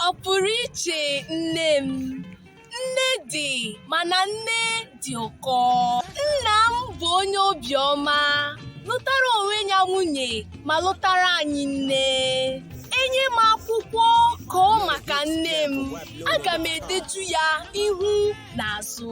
Ọ pụrụ iche nne m. Nne dị mana nne dị ụkọ. Nna m bụ onye obiọma, lụtara onwe ya nwunye ma lụtara anyị nne. E nye m akwụkwọ kọọ maka nne m, aga m edetu ya ihu na azụ.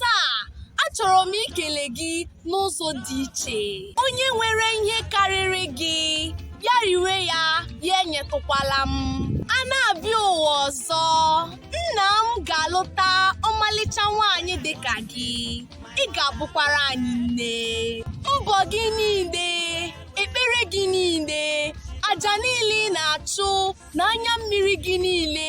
Taa, achọrọ m ikele gị n'ụzọ dị iche. Onye nwere ihe karịrị gị, ya riwe ya, ya enyetụkwala m. A na-abịa ụwa ọzọ, nna m ga-alụta ọmalịcha nwaanyị dị ka gị. Ị ga-abụkwara anyị nne. Mbọ gị niile, ekpere gị niile, aja niile ị na-achụ na anya mmiri gị niile